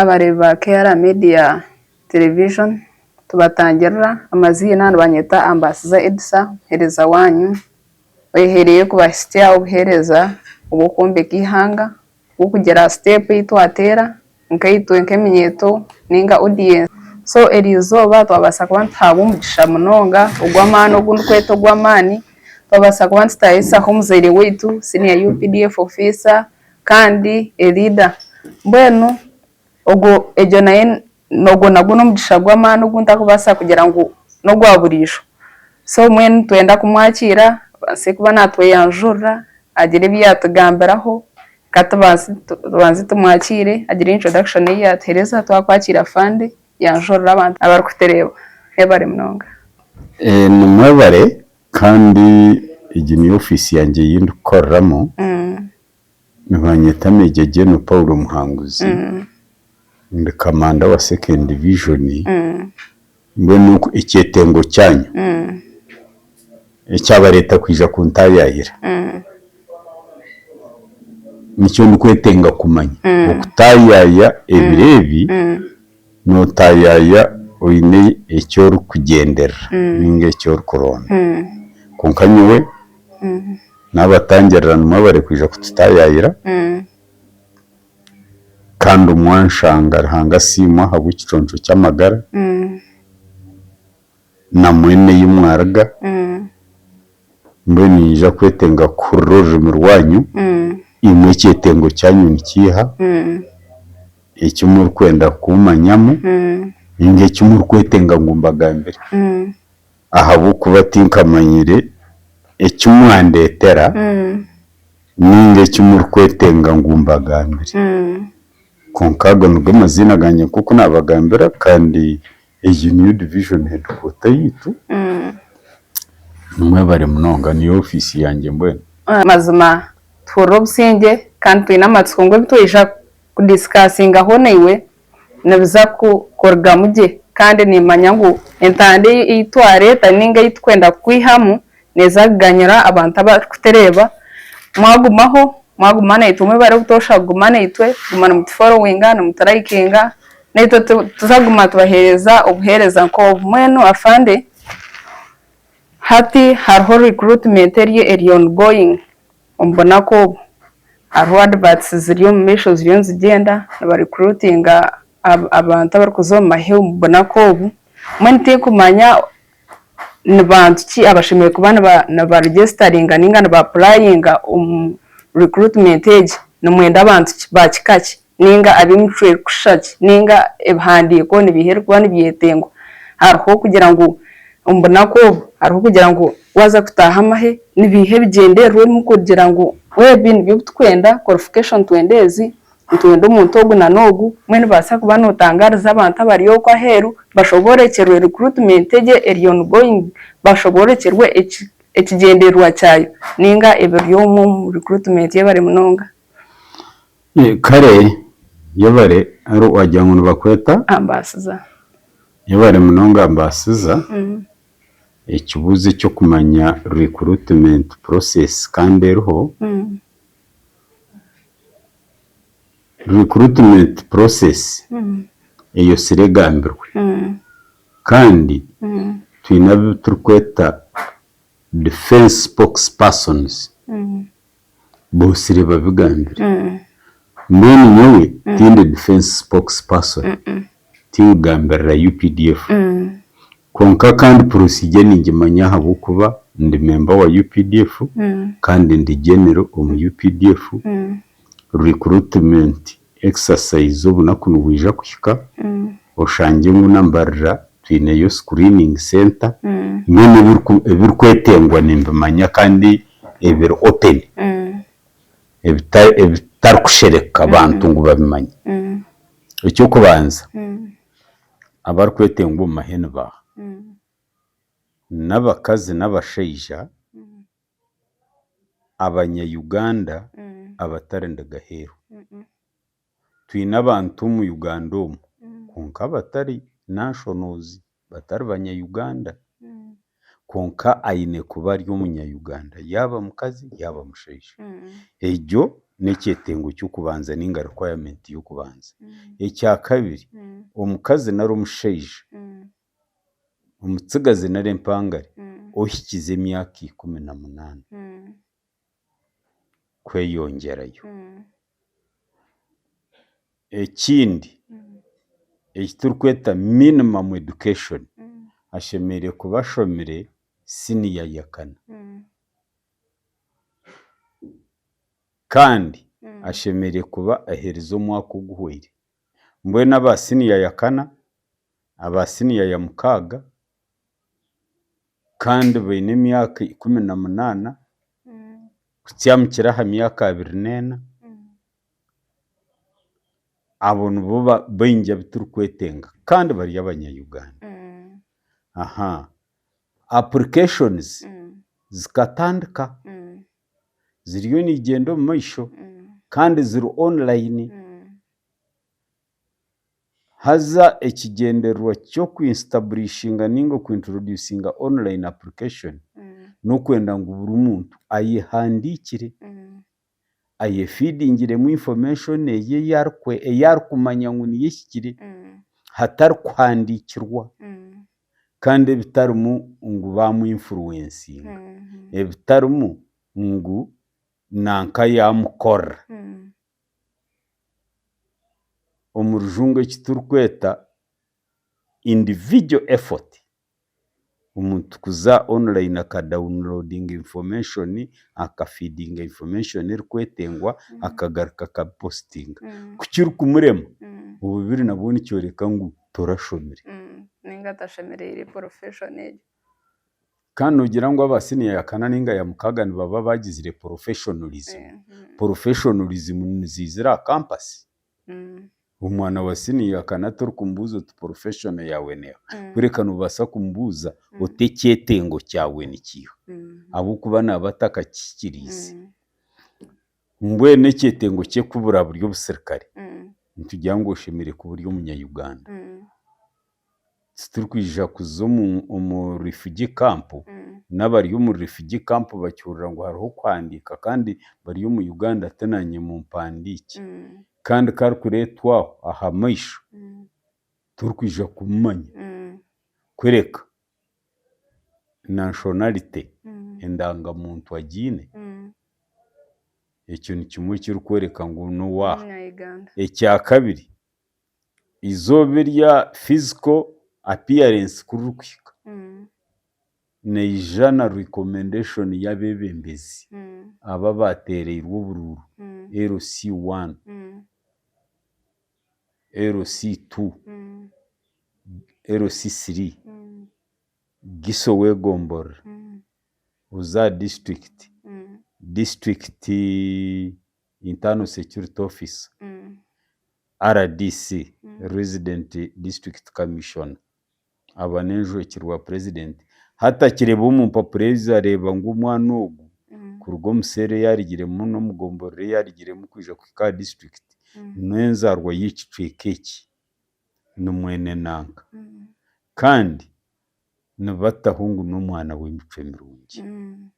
Abareebi ba KR Media Television tubatangirira. Amaziina nibanyeta Ambasizah Edisa, muheereza waanyu oyehereire kubahitsya obuheereza obw'okwombeka eihanga bw'okugira aha siteepu ei twateera nkaitwe nk'eminyeeto nainga odiyensi. So eryo izooba twabaasa kuba nituhaabwa omugisha munonga ogw'amaani ogu ndikweta ogw'amaani, twabaasa kuba nitutaaisaho omuzaire waitu, Senior UPDF Officer, Kandi Elida, Mbwenu ogwo, egyo nayo, ogwo nagwo n'omugisha gw'amaani ogu ntarikubaasa kugira ngu n'ogwa buriijo. So mbwenu nitwenda kumwakiira abaase kuba naatweyanjurira, agire ebi yaatugambiraho. Ka tubanze, tubanze tumwakiire, agire introduction ei yaatuheereza. Twakwakiire Afande, yanjurira abantu abarikutureeba. Mwebare munonga. Nimwebare Kandi egi niyo ofiisi yangye ei ndikukoreramu. Nibanyeta Major General Paul Muhanguzi. Ndi Kamanda wa Second Division. Mbwenu ekyetengo kyanyu ekyabareeta kwija kuntaayaayira, nikyo ndikwetenga kumanya. Okutaayaaya ebiro ebi. Nootayaaya oine eki orikugyenderera nainga eki orikuronda. Kwonka nyowe naabatangirira nimwo abarikwija kututayaayira kandi omwanshanga Ruhanga asiimwe ahabw'ekiconco ky'amagara. na mwene ei mwaruga, mbwenu ninyija kwetenga kuhurira orurimi rwanyu, imwe ekyetengo kyanyu ni kiiha, eki murikwenda kumanyamu nainga eki murikwetenga ngu mbagambire, ahabw'okuba tinkamanyire eki mwandeetera nainga eki murikwetenga ngu mbagambire. Kwonka ago nigo maziina gangye nk'oku naabagambira kandi Egi niyo division headquarter yaitu. Mwebare munonga. Niyo office yangye mbwenu. Mazima tuhurira obusingye kandi twine amatsiko ngu ebitwija ku discussingaho naiwe nibiza kurugamu gye kandi nimanya ngu entanda eyi twareta ninga eyi tukwenda kukwihamu neeza kuganyira abantu abarikutureeba. Mwagumaho, mwaguma naitwe obumwe bari obutoosha kuguma naitwe, guma nimutuforowinga, nimuturayikinga naitwe tuza kuguma tubaheereza obuheereza nk'obu. Mbwenu afande, hati hariho recruitment eri eri ongoing omu bunaku obu. Hariho adverts ziri omu maisho ziriyo nizigyenda nibarecruitinga abantu abarikuza omu maheu omu bunaku obu. Mbwenu tinkumanya ni bantu ki abashemereire kuba nibarugyesitaringa ninga nibapurayinga omu rikuritimenti egi? Nimwenda bantu ki, ba kika ki, ninga ab'emicwe erikushusha ki, ninga ebihandiiko nibiiha ebirikuba nibyetengwa? Hariho kugira ngu omu bunaku obu hariho kugira ngu waaza kutaaha amahe ni biiha ebigyendererwa ebimwe kugira ngu ebi nibyo ebi turikwenda, qualification twenda ezi, Nitwenda omuntu ogu na n'ogu. Obumwe nibaasa kuba notangaariza abantu abari okwo aheeru bashoboorokyerwe recruitment egyo eri ongoing, bashoboorokyerwe ekigyendererwa kyayo nainga ebiri omu recruitment y'ebare munonga. Kare y'ebare ari wagira ngu nibakweta? Ambaasiza. Y'ebare munonga ambaasiza. Ekibuuzo eky'okumanya recruitment process kandi eriho. Recruitment process eyotsire egambirwe kandi twine abu turikweta defence spokespersons botsire babigambire mbwenu nyowe tindi defence spokesperson tigambirira updf. Kwonka kandi purosiigye ningimanya ahabw'okuba ndi memba wa updf kandi ndi genero omu updf, recruitment exercise obunaku nibwija kuhika oshange ngu nambarira twineyo screening center, mbwenu ebirikwetengwa nimbimanya kandi ebiri open ebitarikushereka bantu ngu babimanye, eky'okubanza. Abarikwetengwa omu mahenu baaha? N'abakazi n'abashaija abanya-Uganda abatari ndiga heeru. Twine abantu omu Uganda omu kwonka abatari nationals, batari banya-Uganda. kwonka aine kuba ari omunya-Uganda yaaba mukazi yaaba mushaija. Egyo n'ekyetengo ky'okubanza nainga requirement y'okubanza. Ekyakabiri, omukazi nari omushaija, omutsigazi nari empangare ohikize emyaka ikumi na munaana kweyongyerayo. Ekindi eki turikweta minimum education ashemereire kuba ashomire siniya ya kana. Kandi ashemereire kuba aherize omwaka oguhweire. Mbwenu aba siniya ya kana aba siniya ya mukaaga kandi baine emyaka ikumi na munaana kutyamukira aha myaka abiri n'ena, abo nibo baingi abu turikwetenga kandi bari abanya-Uganda. Apurikashonizi zikatandika, ziriyo nizigyenda omu maisho kandi ziri onilayini. Haza ekigyendererwa ky'okwinsitaburiishinga nainga okwinturoduusinga online application n'okwenda ngu buri muntu ayehandiikire, ayefiidingiremu information eye ei arikumanya ngu niyo ehikire hatari kuhandiikirwa kandi ebitarimu ngu baamwinfuruwensinga, ebitarimu ngu nanka yaamukorera. omu rujungu eki turikweta individual effort, omuntu kuza online aka dawunilodinga information, aka fidinga information erikwetengwa akagaruka akabipositinga. Ku kirikumurema, obubiri nabwo nikyoreka ngu torashomire. Kandi nogira ngu aba senior ya kana ninga ya mukaga nibaba bagizire professionalism. Professionalism nizizira aha campus. Omwana wa senior ya kana torikumubuza oti professional yawe neha. Kureka nobasa kumubuza oti ekyetengo kyawe nikiha. Ahabwokuba naba atakakihikiriize. Mbwenu ekyetengo kye kuburaburi obusirikare, nitugira ngu oshemereire kuba ori omunya Uganda. titurikwija kuza omu refugee camp, nabari omu refugee camp bakihurira ngu hariho okuhandiika kandi bari omu Uganda ati nanye mumpandiikye kandi ku arikuretwa aho ahamaisho turikwija kumumanya kureka nationality, endangamuntu agiine ekyo nikimwe ekirikworeka ngu nowaha. Ekyakabiri. eizooba eri aha physical appearance ku ririkuhika, naija na recommendation y'abeebembezi abo abaateereirwe oburuuru, LC one, LC two, LC three, GISO w'egomborora, oza aha district, district. Internal Security Officer, RDC, Resident District Commissioner, aba n'enjwekye rwa Purezidenti hati akireeba omu mpapura ezo areeba ngu omwana ogu kuruga omu seera ei arugiremu n'omu gomborora ei arugiremu kwija kuhika aha disiturikiti n'enzaarwa y'ekicweka eki, ni mwene nanka kandi nibataho ngu n'omwana w'emicwe mirungi.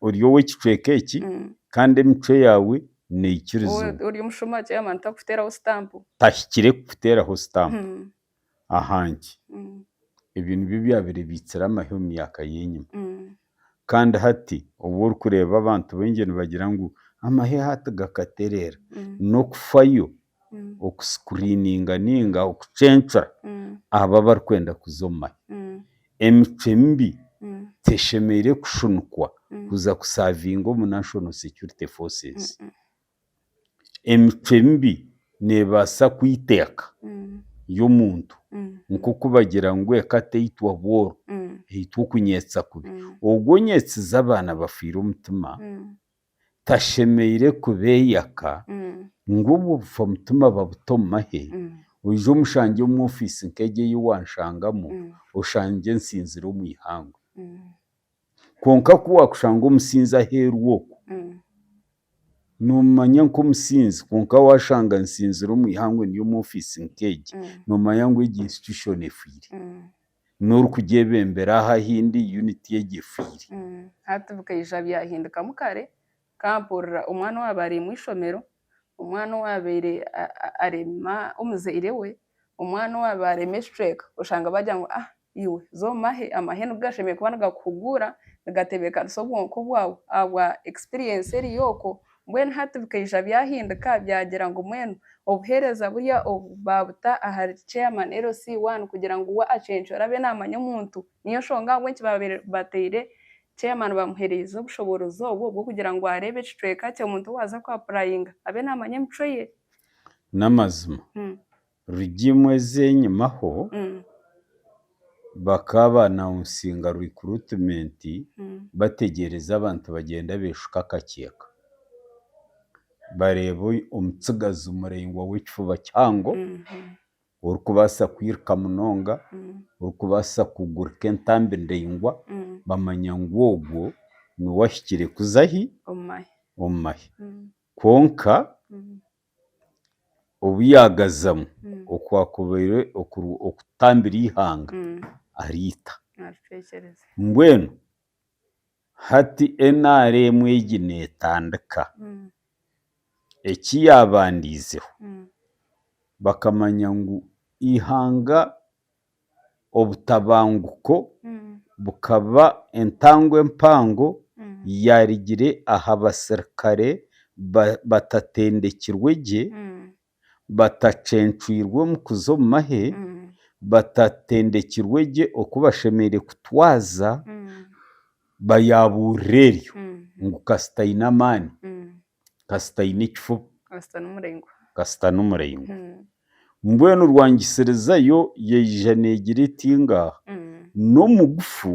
Ori ow'ekicweka eki kandi emicwe yaawe neekirizibwa. Ori omushuma chairman takukuteeraho stamp. Tahikire kukuteeraho stamp. Aha nki? Ebyo nibyo ebyabaire biitsire amahe omu myaka y'enyima. Kandi hati obu orikureeba abantu baingi nibagira ngu amahe hati gakatereera, n'okufayo okusikuriininga nainga okucencura abo abarikwenda kuza omu mahya. Emicwe mibi teshemereire kushunikwa kuza kusaavinga omu National Security Forces. Emicwe mibi neebaasa kwita eka y'omuntu nk'oku bagira ngu eka teitwa bworo, eitwa okunyeetsa kubi. Ogwo onyeetsize abaana bafiire omutima. tashemeire kubeeyaka ngu obwo bufa mutima babute omu mahe, oije omushangye omu ofiisi nk'egi ei waanshangamu oshangye nsinzire omu ihangwe. Kwonka ku waakushanga omusinzi aheeru okwo, noomumanya nk'omusinzi kwonka waashanga nsinzire omu ihangwe ndi omu ofiisi nk'egi, noomanya ngu egi institution efwire. N'ori kugyebembera aha hindi yuniti egi efiire. Hati bikaija byahindukamu kare ka mpurira omwana owaabaire ari omu ishomero, omwana owaabaire arema omuzaire we, omwana owaabaire arema ekicweka oshanga baagira ngu ah iwe za omahe, amahe nigo gashemereire kuba nigakuhuguura, nigatebeekanisa obwonko bwaawe ahabwa ekisipiriyensi eri okwo Mbwenu hati bikaija byahinduka byagira ngu mbwenu obuheereza burya obu baabuta ahari Chairman LC one kugira ngu we acencuure abe naamanya omuntu. Niyo nshonga ahabw'enki baabaire bateire Chairman baamuhereize obushoboorozi obwo bw'okugira ngu areebe ekicweka kye omuntu owaaza ku apurayinga abe naamanya emicwe ye. N'amazima. Rugimu ez'enyimaho bakaba baanaunsinga rikrutimenti bategyereza abantu bagyenda beeshuka akakyeka. Bareeba omutsigazi muraingwa w'ekifuba kihango, orikubaasa kwiruka munonga, orikubaasa kugurika entambi ndaingwa, bamanya ngu ogwo niwe ahikire kuza ahi? Omu mahe. Kwonka obu yaagazamu okwakubaire okuri okutambira eihanga ariita. Mbwenu hati NRM egi neetandika. Eki yaabandiizeho bakamanya ngu eihanga obutabanguko bukaba entambwe mpango yaarigire aha basirikare batatendekirwe gye, batacencwirwe omu kuza omu mahe, batatendekirwe gye oku bashemereire kutwaza, bayaabuurira eryo ngu kasita aine amaani. Kasita aine ekifuba. Kasita n'omuraingwa. Kasita n'omuraingwa. Mbwenu rwangisirizayo yaija negira eti ngaaha, n'omugufu